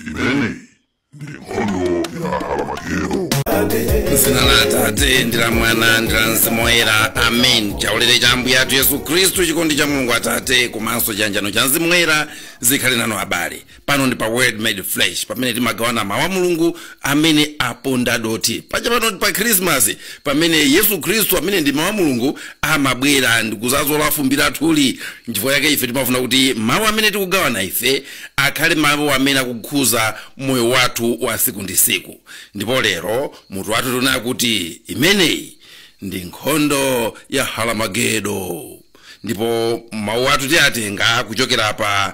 imeneyi ndi nkhondo ya aramagedo m'dzina la atate ndi la mwana ndi la mzimu woyera amen chaulere cha ambuye athu yesu khristu chikondi cha mulungu atate komanso chiyanjano cha mzimu woyera zikhale nanu abale pano ndi pa word made flesh pamene timagawana mawu a mulungu amene aponda dothi paja pano ndi pa khrismas pamene yesu khristu amene ndi mawu a mulungu amabwera ndikuzazola fumbi lathuli nchifukwa yake ife timafuna kuti mawu amene tikugawana ife akhale mawu amene akukhuza moyo wathu wa siku ndi siku ndipo lero mutu wathu tunena kuti imeneyi ndi nkhondo ya haramagedo ndipo mawu athu tiyatenga kuchokera pa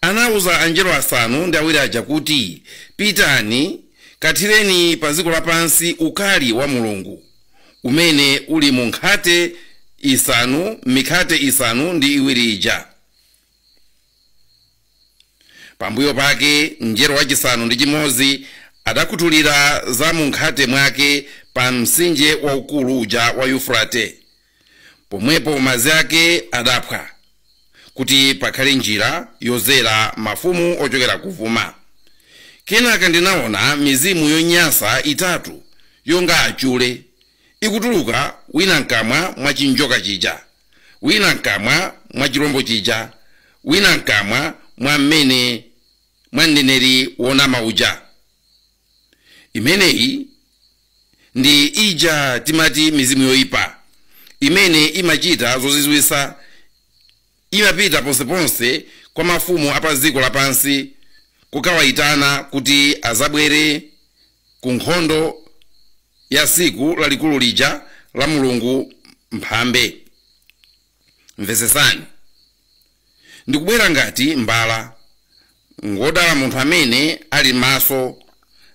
anauza angelo asanu ndi awiri aja kuti, Pitani, kathireni pa dziko lapansi ukali wa Mulungu, umene uli mu nkhate isanu, m'mikhate isanu ndi iwiri ija. Pambuyo pake mngelo wachisanu ndi chimodzi adakhuthulira za munkhate mwake pa mtsinje waukulu uja wa Yufurate, pomwepo madzi ake adaphwa kuti pakhale njira yodzera mafumu ochokera kuvuma kenaka ndinaona mizimu yonyansa itatu yonga achule ikutuluka wina mkamwa mwa chinjoka chija wina mkamwa mwa chilombo chija wina mkamwa mwa mmene mwa mneneri wonama uja imeneyi ndi ija timati mizimu yoyipa imene imachita zozizwitsa imapita ponseponse kwa mafumu a pa dziko lapansi kukawayitana kuti azabwere ku nkhondo ya tsiku lalikulu lija la mulungu mphambe mvetsetsani ndikubwera ngati mbala ngodala munthu amene ali maso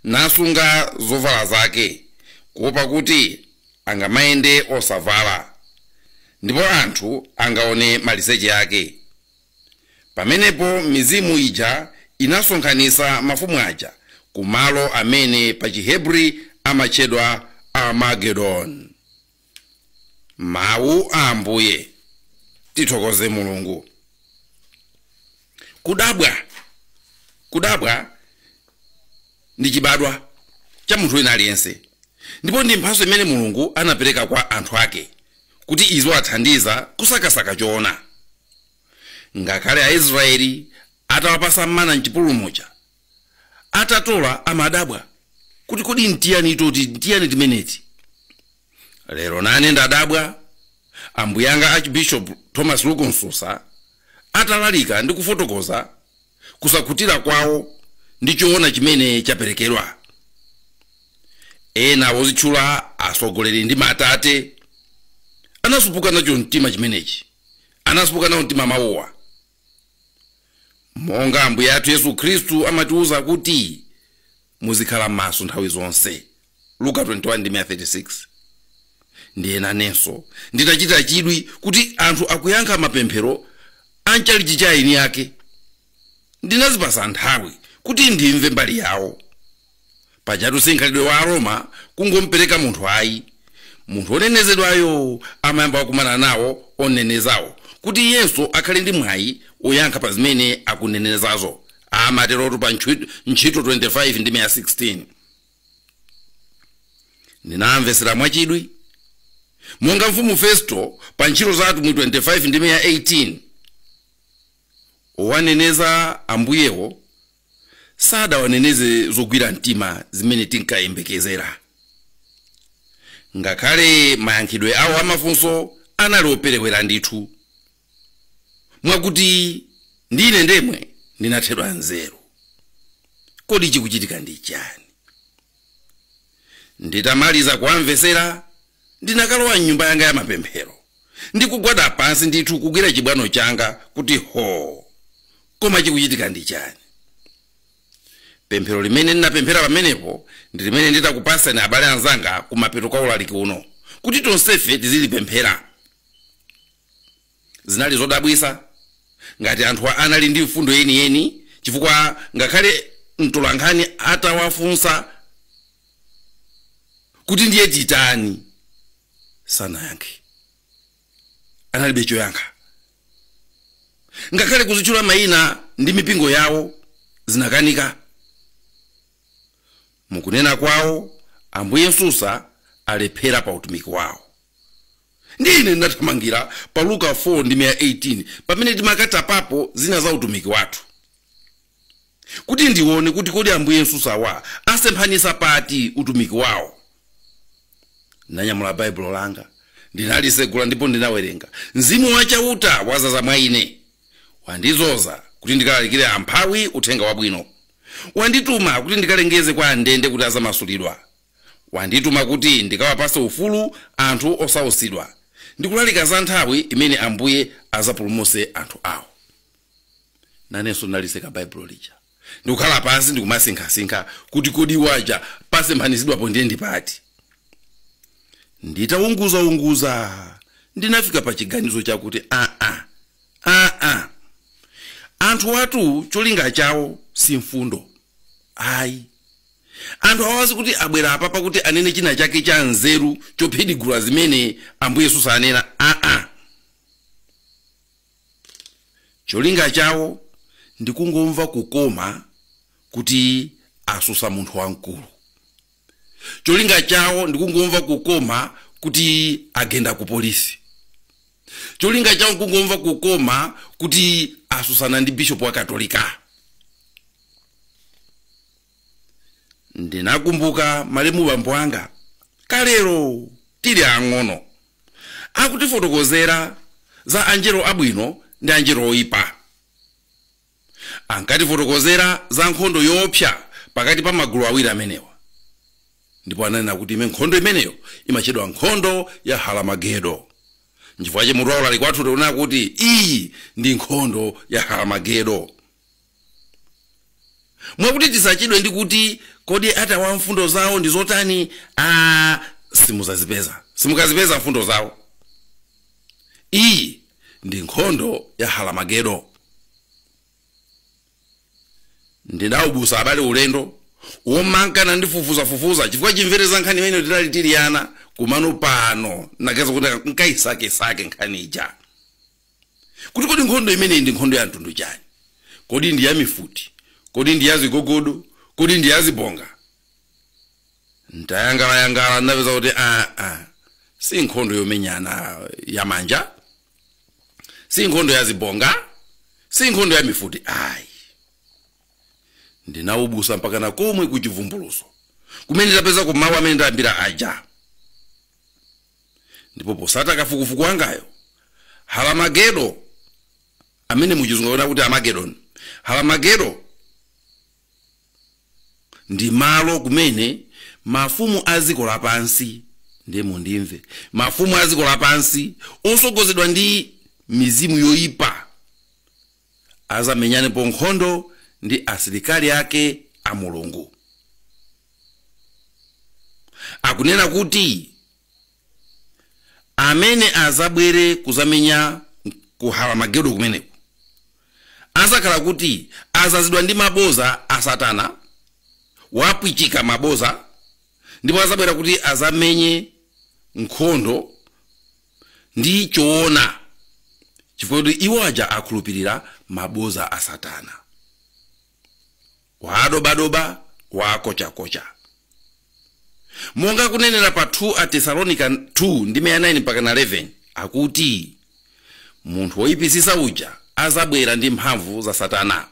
nasunga zovala zake kuopa kuti angamayende osavala ndipo anthu angaone maliseche ake pamenepo mizimu ija inasonkhanitsa mafumu aja ku malo amene pa chihebri amatchedwa armagedon mawu a ambuye tithokoze mulungu kudabwa kudabwa ndi chibadwa cha munthu wina aliyense ndipo ndi mphatso imene mulungu anapereka kwa anthu ake kuti iziwathandiza kusakasaka choona ngakhale aisraeli atawapasa mana mchipululu muja atatola amadabwa kuti kodi ntiyani toti ntiyani timeneti lero nane ndadabwa ambuye anga archbishop thomas luke msusa atalalika ndi kufotokoza kusakhutira kwawo ndi choona chimene chaperekedwa ena wozitchula atsogoleri ndi matate anasupuka nacho mtima chimenechi anasupuka nawo mtima mawowa monga ambuye athu yesu khristu amatiwuza kuti muzikhala maso nthawi zonse luka 21 ndime 36 ndiye nanenso nditachita chidwi kuti anthu akuyankha mapemphero a mchalichi cha eni ake ndinazipasa nthawi kuti ndimve mbali yawo pajatu si mkhalidwe wa aroma kungompereka munthu ayi munthu onenezedwayo amayamba wakumana nawo onenezawo kuti iyenso akhale ndi mwayi oyankha pa zimene akunenezazo amaterotu pa ntchito 25 ndime ya 16 ndinamvesera mwachidwi monga mfumu festo pa ntchito za atumwi 25 ndime ya 18 owaneneza ambuyewo sadawaneneze zogwira mtima zimene tinkayembekezera ngakhale mayankhidwe awo amafunso anali operewera ndithu mwakuti ndi ine ndemwe ndinathedwa nzeru kodi chikuchitika ndi chani nditamaliza kuwamvetsera ndinakalowa mnyumba yanga ya mapemphero ndikugwada pansi ndithu kugwira chibwano changa kuti ho koma chikuchitika ndi chani pemphero limene ndinapemphera pamenepo ndi limene nditakupatsani abale anzanga kumapeto kwa ulaliki uno kuti tonsefe tizilipemphera Zinali zodabwitsa ngati anthu anali ndi mfundo yeniyeni chifukwa ngakhale mtolankhani atawafunsa kuti ndiye titani, sanayankhe. Analibe choyankha. Ngakhale kuzitchula mayina ndi mipingo yawo zinakanika. Mukunena kwawo, Ambuye Msusa alephera pa utumiki wawo. Ndiye ine ndinathamangira pa Luka 4 ndime ya 18 pamene timakatapapo zina za utumiki wathu kuti ndione kuti kodi Ambuye Msusawa asemphanisa pati utumiki wawo. Ndinanyamula Baibulo langa ndinalisegula ndipo ndinawerenga, Mzimu wa Chauta wazaza mwa ine, wandizoza kuti ndikalalikire amphawi uthenga wabwino, wandituma kuti ndikalengeze kwa andende kuti azamasulidwa, Wandituma kuti ndikawapatse ufulu anthu osautsidwa, ndi kulalika za nthawi imene Ambuye adzapulumutse anthu awo. Nanenso ndinalitseka Baibulo lija ndi kukhala pansi ndi kumasinkhasinkha kuti kodi iwo aja pasemphanitsidwapo ndiye ndi pati. Nditaunguzaunguza ndinafika pa chiganizo chakuti aa, aa, anthuwatu cholinga chawo si mfundo ayi, anthu awa si kuti abwera apapa kuti anene china chake cha nzeru chophidigula zimene ambuye msusa anena aa cholinga chawo ndi kungomva kukoma kuti asusa munthu wamkulu cholinga chawo ndi kungomva kukoma kuti agenda ku polisi cholinga chawo ndi kungomva kukoma kuti asusana ndi bishopu wa katolika ndinakumbuka malemu bambo anga kalero tili ang'ono akutifotokozera za angelo abwino ndi angelo oyipa ankatifotokozera za nkhondo yoopsa pakati pa magulu awiri amenewa ndipo ananena kuti ime nkhondo imeneyo imatchedwa nkhondo ya haramagedo nchifukwa chake mutu wa ulaliki wathu tikunena kuti iyi ndi nkhondo ya haramagedo mwakuti tisachedwe ndi kuti kodi anthu awa mfundo zawo ndi zotani a simuzazipeza simukazipeza mfundo zawo iyi ndi nkhondo ya halamagedo ndinaubusa abale ulendo womankana ndifufuzafufuza chifukwa chimvere za nkhani imeneyi tinali tili ana komano pano ndaganiza kuti nkaisakesake nkhani ija kuti kodi nkhondo imeneyi ndi nkhondo ya mtundu chani kodi ndi ya mifuti kodi ndi ya zigogodo kodi ndi ya zibonga ntayang'anayang'ana ndapeza kuti aa ah, ah, si nkhondo yomenyana ya manja si nkhondo ya zibonga si nkhondo ya mifuti ayi ndinaubusa mpakana komwe ku chivumbuluso kumene tapezako mawu amene ndayambira aja ndipo posata kafukufuku wangayo halamagedo amene muchizungu anena kuti armageddon halamagedo ndi malo kumene mafumu a dziko lapansi ndiye mundimve mafumu a dziko lapansi osogozedwa ndi mizimu yoyipa azamenyanepo nkhondo ndi asilikali ake a mulungu akunena kuti amene azabwere kuzamenya ku haramagedo kumeneko azakhala kuti azazidwa ndi maboza a satana wapwichika maboza ndipo azabwera kuti azamenye nkhondo ndi choona chifukwa kuti iwo aja akhulupirira maboza a satana wadobadoba wakochakocha monga akunenera pa 2 atesalonika 2 ndime ya 9 mpaka na 11 akuti munthu woyipisisa uja azabwera ndi mphamvu za satana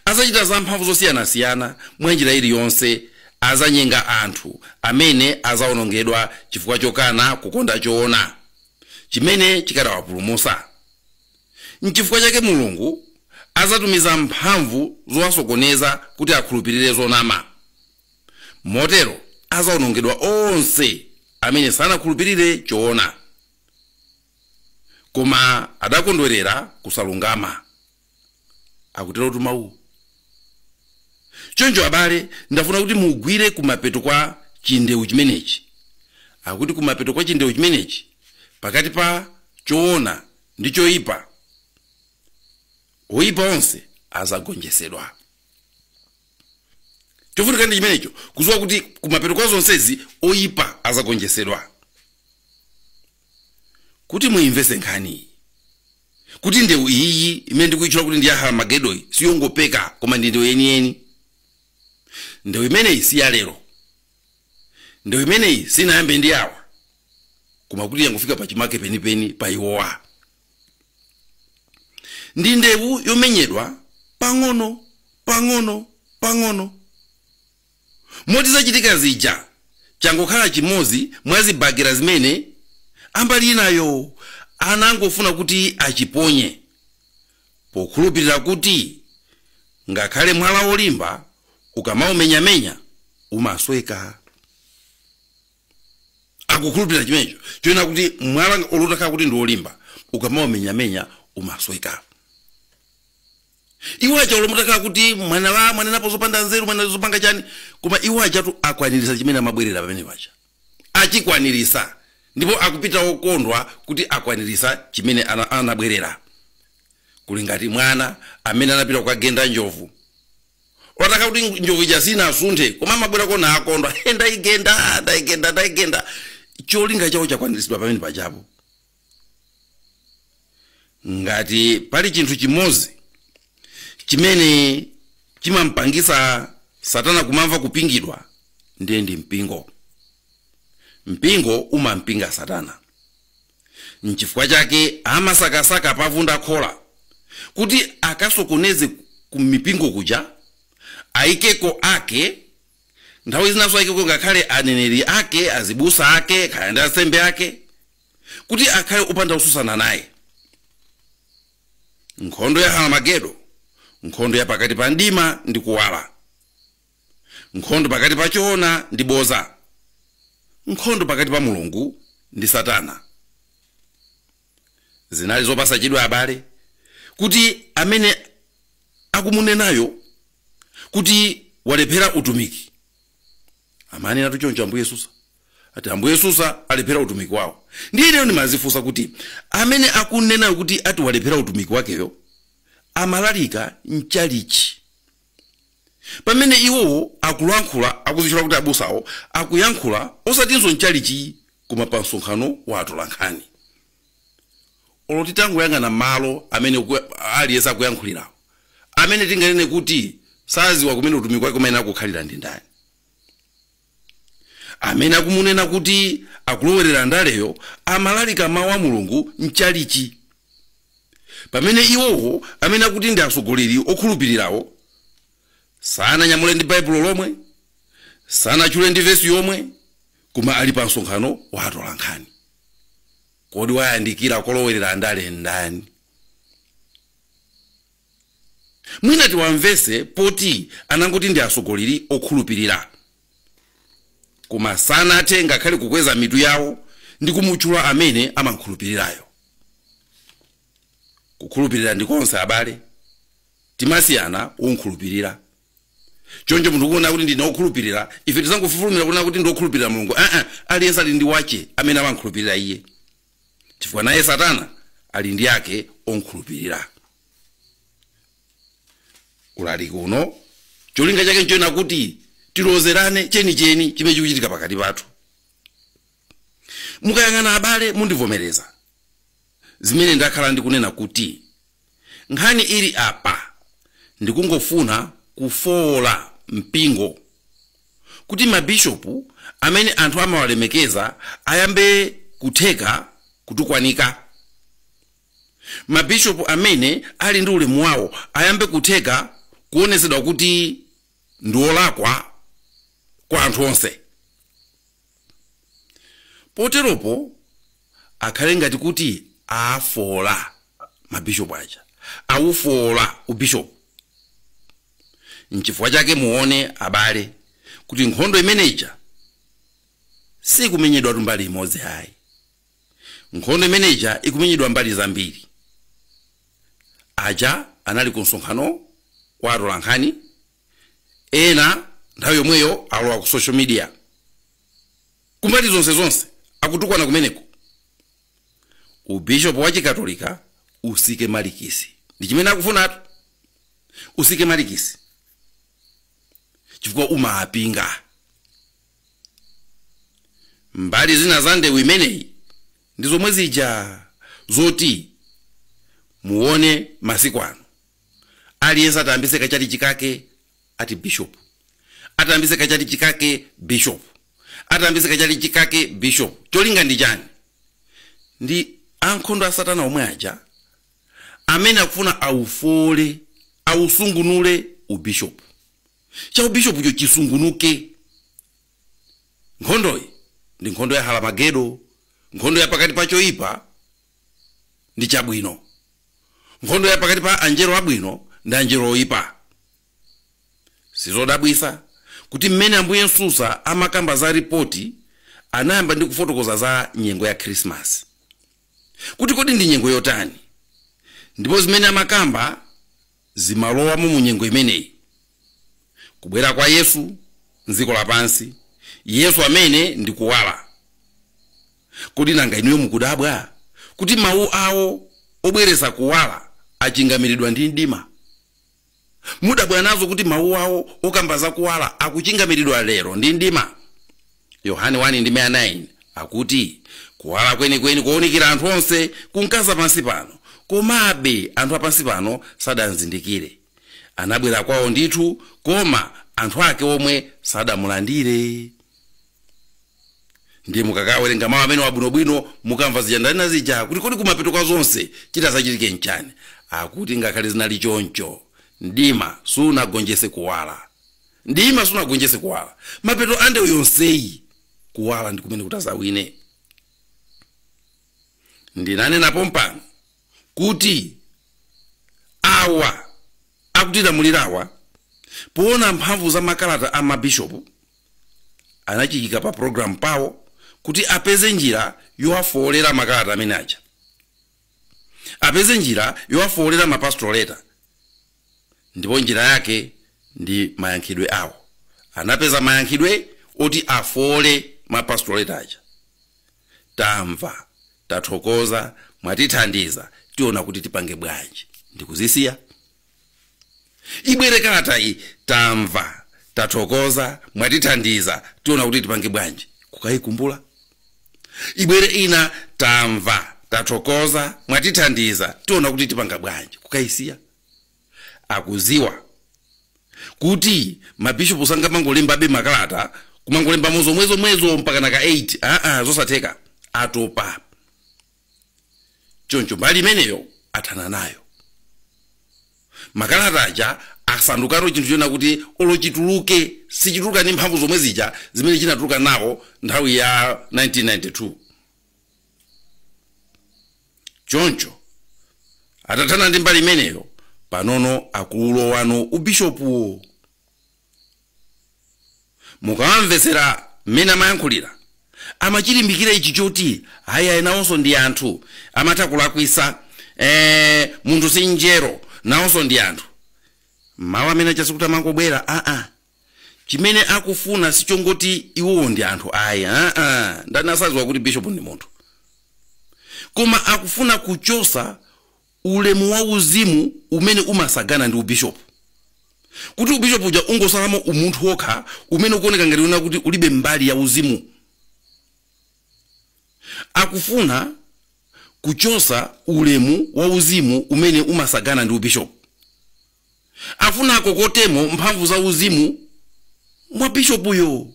Adzachita zamphamvu zosiyanasiyana mwa njira iliyonse. Adzanyenga anthu amene adzawonongedwa chifukwa chokana kukonda choona chimene chikadawapulumutsa. N'chifukwa chake Mulungu adzatumiza mphamvu zowasokoneza kuti akhulupirire zonama. Motero adzawonongedwa onse amene sanakhulupirire choona, koma adakondwerera kusalungama. akuterotu mawuwo choncho abale ndafuna kuti mugwire kumapeto kwa chindewu chimenechi akuti kumapeto kwa chindewu chimenechi pakati pa choona ndi choyipa oyipa onse azagonjesedwa chofunika ndi chimenecho kuziwa kuti kumapeto kwa zonsezi oyipa azagonjesedwa kuti muimvese nkhaniyi kuti ndewu iyiyi imene ndikuitchula kuti ndi ya haramagedoyi siyongopeka koma ndi ndewu yeniyeni ndewu imeneyi si ya lero ndewu imeneyi sinayambe ndi awa koma kuti yangofika pa chimake penipeni pa iwowa ndi ndewu yomenyedwa pang'ono pang'ono pang'ono moti zachitika zija changokhala chimodzi mwa zibagera zimene ambali inayo anangofuna kuti achiponye pokhulupirira kuti ngakhale mwala wolimba ukamaumenyamenya umasweka akukhulupirira chimenecho chonena kuti mwala olo utakhala kuti ndi wolimba ukamaumenyamenya umasweka iwo aja olo mutakhala kuti mwanenapo zopanda nzeru mwanena zopanga chani koma iwo ajatu akwanirisa chimene amabwerera pamene paja achikwanirisa ndipo akupita okondwa kuti akwanirisa chimene ana- anabwerera kuli ngati mwana amene anapita kukagenda njovu olo itakhala kuti njovu ija sinasunthe koma amabwera kuno akukondwa "He, ndaigenda ndaigenda ndaigenda cholinga chawo chakwaniritsidwa pamene pajapo ngati pali chinthu chimodzi chimene chimampangitsa satana kumamva kupingidwa ndiye ndi mpingo mpingo umampinga satana nchifukwa chake amasakasaka pavunda khola kuti akasokoneze ku mipingo kuja ayikeko ake nthawi zinanso ayikeko ngakhale aneneri ake azibusa ake kaya ndi ansembe ake kuti akhale opanda wotsutsana naye nkhondo ya aramagedo nkhondo ya pakati pa mdima ndi kuwala nkhondo pakati pa choona ndi boza nkhondo pakati pa mulungu ndi satana zinali zopasa chidwi abale kuti amene akumunenayo kuti walephera utumiki amanenatu choncho ambuye yesu saa ati ambuye yesu saa alephera utumiki wawo ndiye ineyo ndimazifunsa kuti amene akumunenayo kuti ati walephera utumiki wakeyo amalalika mchalichi pamene iwowo akulankhula akuzitchula kuti abusawo akuyankhula osatinso mchalichi koma pa msonkhano wa atolankhani olo titangoyang'ana malo amene aliyense akuyankhulirawo amene tinganene kuti saziwa kumene utumiki wake umayenera kukhalira ndi ndani amene akumunena kuti akulowerera ndaleyo amalalika mawu a mulungu mchalichi pamene iwowo amene akuti ndi atsogoleri okhulupirirawo sananyamule ndi baibulo lomwe sanachule ndi vesi yomwe Koma ali pa msonkhano wa atolankhani, kodi wayandikira kolowerera ndale ndani? Mwina tiwamvetse poti anangoti ndi atsogoleri okhulupirira, koma sanathe ngakhale kukweza mitu yawo ndi kumutchula amene amamkhulupirirayo. Kukhulupirira ndi tonse abale, timasiyana womkhulupirira. choncho munthu kunena kuti ndine okhulupirira ife tisangofulumira kunena kuti ndi okhulupirira mulungu aa aliyense ali ndi wache amene amamkhulupirira iye chifukwa naye satana ali ndi ake omkhulupirira ulaliki uno cholinga chake nchoena kuti tilozerane chenicheni chimene chikuchitika pakati pathu mukayang'ana abale mundivomereza zimene ndakhala ndikunena kuti nkhani ili apa ndikungofuna kufooketsa mpingo kuti mabishopu amene anthu amawalemekeza ayambe kutheka kutukwanika mabishopu amene ali ndi ulemu wawo ayambe kutheka kuonetsedwa kuti ndiolakwa kwa anthu onse poteropo akhale ngati kuti afoola mabishopu aja awufoola ubishopu nchifukwa chake muone abale kuti nkhondo imene ija sikumenyedwatu mbali imodzi ayi nkhondo imene ija ikumenyedwa mbali zambiri aja anali ku msonkhano wa atolankhani ena nthawi yomweyo alowa ku social media kumbali zonse zonse akutukwana kumeneko ubishopu wa chikatolika usike malikisi ndi chimene akufunatu usike malikisi chifukwa umapinga mbali zina za ndewu imeneyi ndi zomwe zija zoti muone masiku ano aliyense atayambise kachalichi kake ati bishop atayambise kachalichi kake bishop atayambise kachalichi kake bishop cholinga ndi chani ndi ankhondo a satana omwe aja amene akufuna aufoole ausungunule ubishopu cha ubishopucho chisungunuke nkhondoyi ndi nkhondo ya Halamagedo nkhondo ya pakati pa choyipa ndi chabwino, nkhondo ya pakati pa Angelo abwino ndi Angelo oipa. Sizodabwitsa kuti m'mene Ambuye Msusa amakamba za ripoti anayamba ndi kufotokoza za nyengo ya Khrisimasi, kuti kodi ndi nyengo yotani, ndipo zimene amakamba, zimalowamo mu nyengo imeneyi. Kubwera kwa Yesu mdziko lapansi, Yesu amene ndi Kuwala. Kodi nanga inuyo mukudabwa kuti mawu awo obweretsa kuwala achingamiridwa ndi mdima? Mudabwa nazo kuti mawu awo okamba za kuwala akuchingamiridwa lero ndi mdima? Yohane 1 ndime ya 9 akuti kuwala kwenikweni kounikira anthu onse kunkaza pansi pano komabe anthu apansi pano sadamzindikire anabwera kwawo ndithu koma anthu ake omwe sadamulandire ndiye mukakawerenga mawu amenewa bwinobwino mukamva zija ndanena zija kuti kodi kumapeto kwa zonse chitazachitike nchani akuti ngakhale zinali choncho mdima sunagonjese kuwala Mdima sunagonjetse kuwala. Mapeto a ndewu yonseyi, kuwala ndi kumene kutazawine. Ndinanena pompano kuti awa akutilamulirawa, poona mphamvu za makalata a mabishopu, anachiika pa programu pawo kuti apeze njira yowafoolera makalata amene aja, apeze njira yowafoolera ma pastoral letter. ndipo njira yake ndi mayankhidwe awo anapeza mayankhidwe oti afoole ma pastorate aja tamva tathokoza mwatithandiza tiona kuti tipange bwanji ndikuzisiya ibwere kalata iyi tamva tathokoza mwatithandiza tiona kuti tipange bwanji kukayikumbula ibwere ina tamva tathokoza mwatithandiza tiona kuti tipanga bwanji kukayisiya akuziwa kuti mabishopu sangamangolembabe makalata kumangolembamo zomwezomwezo mpakana ka 8 aa zosatheka atopa choncho mbali imeneyo athana nayo makalata aja asandukano chinthu chona kuti olo chituluke sichituluka ndi mphamvu zomwe zija zimene chinatuluka nawo nthawi ya 1992 choncho atathana ndi mbali imeneyo panono akulowano ubishopuwo mukawamvetsera mmene amayankhulira amachilimbikira ichi choti ayi ayi nawonso ndi anthu amatha kulakwisa eh, munthu si njero nawonso ndi anthu mawu amene aja sikuti amangobwera aa chimene akufuna sichongoti iwowo ndi anthu ayi aa ndani asaziwa kuti bishop ndi munthu koma akufuna kuchosa ulemu wauzimu umene umasagana ndi ubishopu kuti ubishopu uja ungosalamo umunthu wokha umene ukuoneka ngati kunena kuti ulibe mbali ya uzimu akufuna kuchosa ulemu wauzimu umene umasagana ndi ubishopu afuna akokotemo mphamvu za uzimu mwa bishopuyo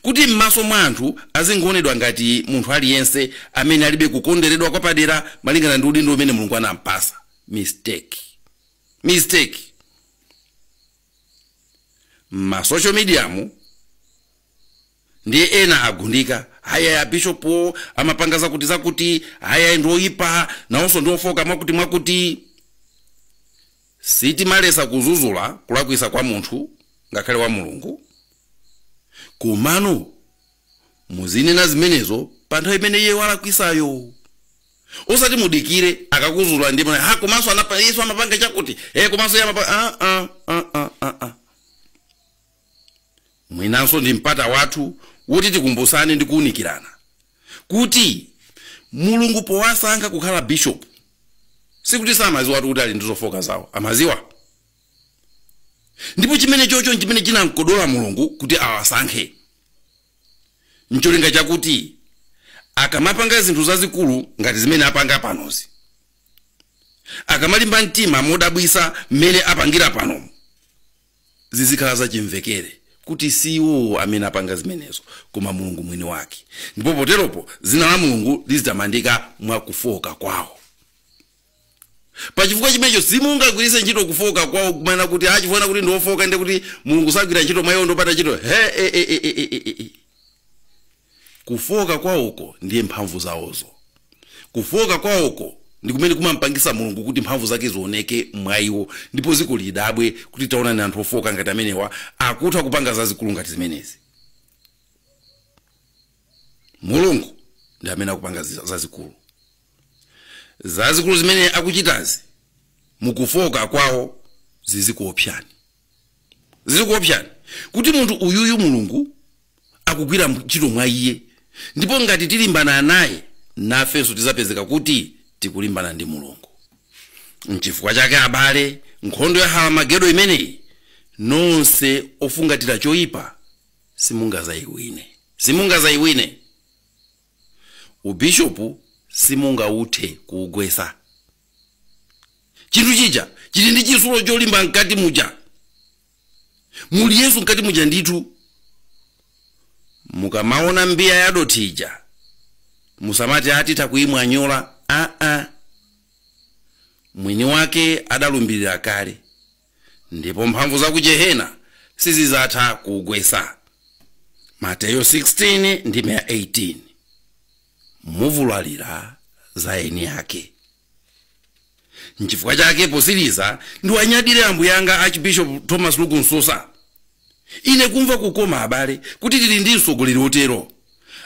kuti m'maso mwa anthu azingoonedwa ngati munthu aliyense amene alibe kukonderedwa kwapadera malingana ndi udindo umene mulungu anampasa mistake mistake masocial mediamu ndiye ena agundika ayayi abishopuwo amapanga zakuti zakuti ayayi ndi oyipa nawonso ndi ofoka mwakuti mwakuti sitimalesa kuzuzula kulakwisa kwa munthu ngakhale wa mulungu komano muzinena zimenezo pa nthawi imene iye walakwisayo osati mudikire akakuzuzula ndi mwana ha komanso anapa- yesu amapanga chakuti e komanso iye amapanga ah, ah, ah, ah, ah, ah. Mwinanso ndi mpata wathu woti tikumbutsane ndi kuunikirana kuti Mulungu powasankha kukhala bishopu, sikuti samadziwatu kuti ali ndi zofooka zawo, amadziwa. Ndipo chimenechocho n'chimene chinam'kodola Mulungu kuti awasankhe, n'cholinga chakuti akamapanga zinthu zazikulu ngati zimene apanga panozi, akamalimba mtima modabwitsa mmene apangira panomu, zizikhala zachimvekere kuti si iwowo amene apanga zimenezo, koma Mulungu Mwiniwake, ndipo poteropo dzina la Mulungu lizitamandika mwa kufooka kwawo. Pachifukwa chimenecho, simungagwiritse ntchito kufooka kwawo kumanena kuti, ah, chifukwa kuti ndi ofooka ndiye kuti Mulungu sagwira ntchito mwa iwo ndi opanda ntchito. He-e-e-e-e-e-e! Kufooka kwawoko ndiye mphamvu zawozo. Kufooka kwawoko ndi kumene kumampangitsa Mulungu kuti mphamvu zake zioneke mwa iwo ndipo dziko lidabwe kuti, Taonani, anthu ofooka ngati amenewa akutha kupanga zazikulu ngati zimenezi. Mulungu ndi amene akupanga zazikulu. Zazikulu zimene akuchitazi mu kufooka kwawo zizikuopsani. zizikuopsani kuti munthu uyuyu mulungu akugwira ntchito mwa iye ndipo ngati tilimbana naye nafenso tizapezeka kuti tikulimbana ndi mulungu nchifukwa chake abale nkhondo ya haramagedo imeneyi nonse ofungatira choyipa simungazayiwine simungazayiwine ubishopu simungauthe kuugwesa chinthu chija chili ndi chitsulo cholimba mkati muja muli yesu mkati muja ndithu mukamaona mbiya ya dothi ija musamati a titha kuyimwanyola aa mwini wake adalumbirira kale ndipo mphamvu za ku jehena sizizatha kuugwesa mateyo 16 ndime ya 18 muvulalira za eni ake nchifukwa chake posiriza ndiwanyadire ambuye anga archbishop thomas luke msusa Ine kumva kukoma, abale, kuti tili ndi mtsogoleri wotero,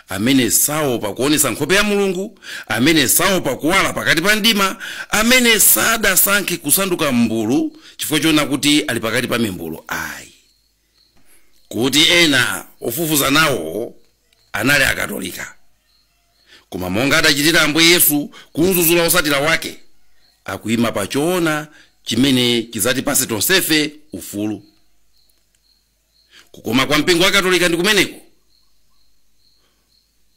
amene saopa kuonetsa nkhope ya Mulungu, amene saopa kuwala pakati pa mdima, amene sadasankhe kusanduka mmbulu chifukwa choona kuti ali pakati pa mimbulu ayi. Kuti ena ofufuza nawo anali Akatolika. koma monga adachitira Ambuye Yesu kumzuzula osatira wake, akuima pa choona chimene chidzatipase tonsefe ufulu. Kukoma kwa mpingo wa Katolika ndi kumeneko.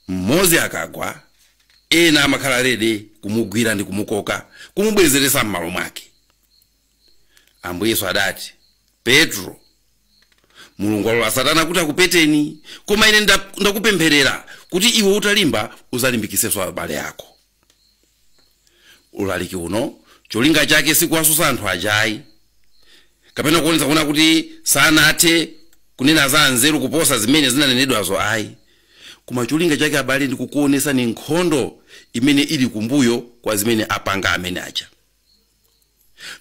Mmodzi akagwa, ena amakhala ready kumugwira ndi kumukoka, kumubwezeresa mmalo mwake. Ambuye Yesu adati, Petro, Mulungu walola Satana kuti akupeteni, koma ine ndakupempherera kuti iwe utalimba udzalimbikitsenso abale ako. Ulaliki uno cholinga chake sikuwasusa anthu ajayi kapena kuonetsa kuona kuti sanathe kunena za nzeru kuposa zimene zinanenedwazo ayi koma cholinga chake abale ndi kukuonesani nkhondo imene ili kumbuyo kwa zimene apanga amene aja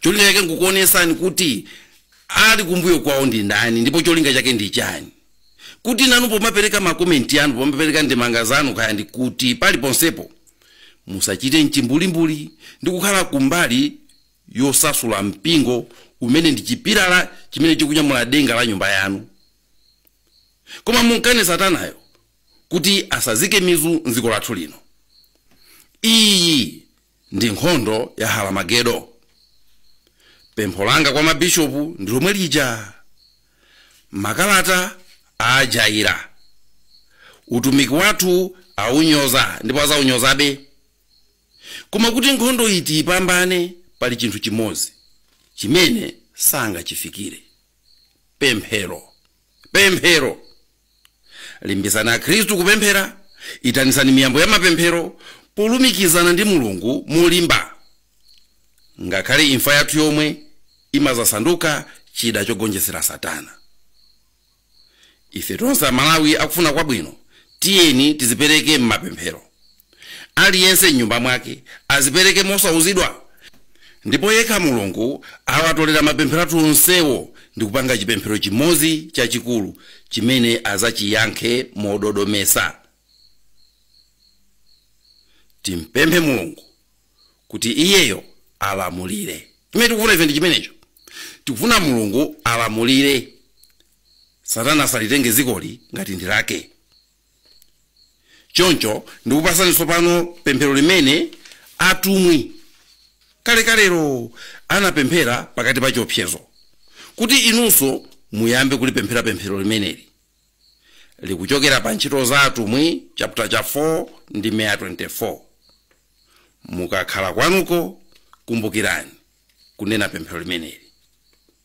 cholinga chake nkukuonesani kuti ali kumbuyo kwawo ndi ndani ndipo cholinga chake ndi chani kuti nanu pomapereka makomenti anu pomapereka ndemanga zanu kaya ndi kuti pali ponsepo musachite mchimbulimbuli ndi kukhala kumbali yosasula mpingo umene ndi chipilala chimene chikunyamula denga la nyumba yanu koma mumkane satanayo kuti asazike mizu mdziko lathu lino iyi ndi nkhondo ya Haramagedo. Pempho langa kwa mabishopu ndi lomwe lija. Makalata ajaira. Utumiki wathu aunyoza ndipo azaunyozabe. Koma kuti nkhondoyi tiipambane pali chinthu chimodzi chimene sangachifikire. Pemphero. Pemphero. limbitsani akhristu kupemphera itanitsani miyambo ya mapemphero polumikizana ndi mulungu molimba ngakhale imfa yathu yomwe imazasanduka chida chogonjetsera satana ife tonse amalawi akufuna kwabwino tiyeni tizipereke m'mapemphero Aliyense m'nyumba mwake azipereke mosauzidwa, ndipo yekha Mulungu awatolera mapemphero athu onsewo ndi kupanga chipemphero chimodzi chachikulu chimene azachiyankhe mododometsa. Timpemphe Mulungu kuti Iyeyo alamulire. Chimene tikufuna ife ndi chimenecho. Tikufuna Mulungu alamulire. Satana asalitenge dzikoli ngati ndi lake. Choncho ndikupatsani tsopano pemphero limene atumwi kalekalelo anapemphera pakati pa chiopsezo, kuti inunso muyambe kulipemphera pemphero limeneli. Likuchokera pa Ntchito za Atumwi chapter 4 verse 24. Mukakhala kwanuko, kumbukirani kunena pemphero limeneli.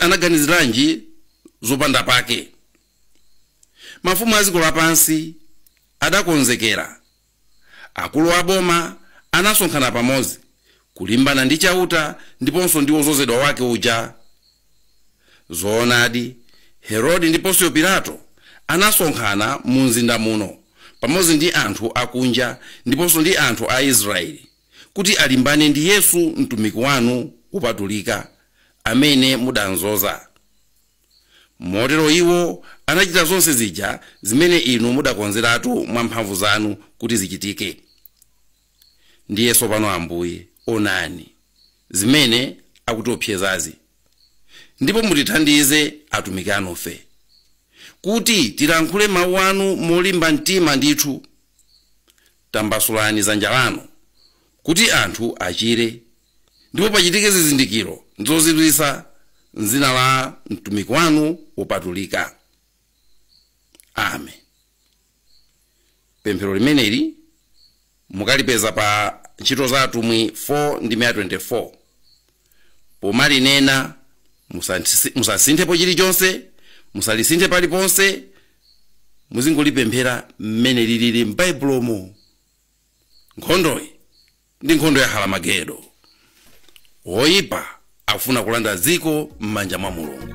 anaganiziranji zopanda pake mafumu a dziko lapansi adakonzekera akulu a boma anasonkhana pamodzi kulimbana ndi chauta ndiponso ndi wozozedwa wake uja zoonadi herode ndi ponsiyo pilato anasonkhana mu mzinda muno pamodzi ndi anthu akunja ndiponso ndi anthu a israeli kuti alimbane ndi Yesu mtumiki wanu wopatulika, amene mudamdzoza. Motero iwo anachita zonse zija zimene inu mudakonzeratu mwa mphamvu zanu kuti zichitike. Ndiye tsopano, Ambuye, onani zimene akutiwopsezazi, ndipo mutithandize atumiki anufe, kuti tilankhule mau anu molimba mtima ndithu. Tambasulani dzanja lanu kuti anthu achire, ndipo pachitike zizindikiro ndi zozizwitsa m'dzina la mtumiki wanu wopatulika. Amen. Pemphero limeneli mukalipeza pa Ntchito za Atumwi 4 ndime ya 24. pomalinena musantisi- musasinthepo chilichonse musalisinthe paliponse muzingolipemphera mmene lilili m'baibulomo nkhondoyi ndi nkhondo ya haramagedo woyipa akufuna kulanda dziko m'manja mwa mulungu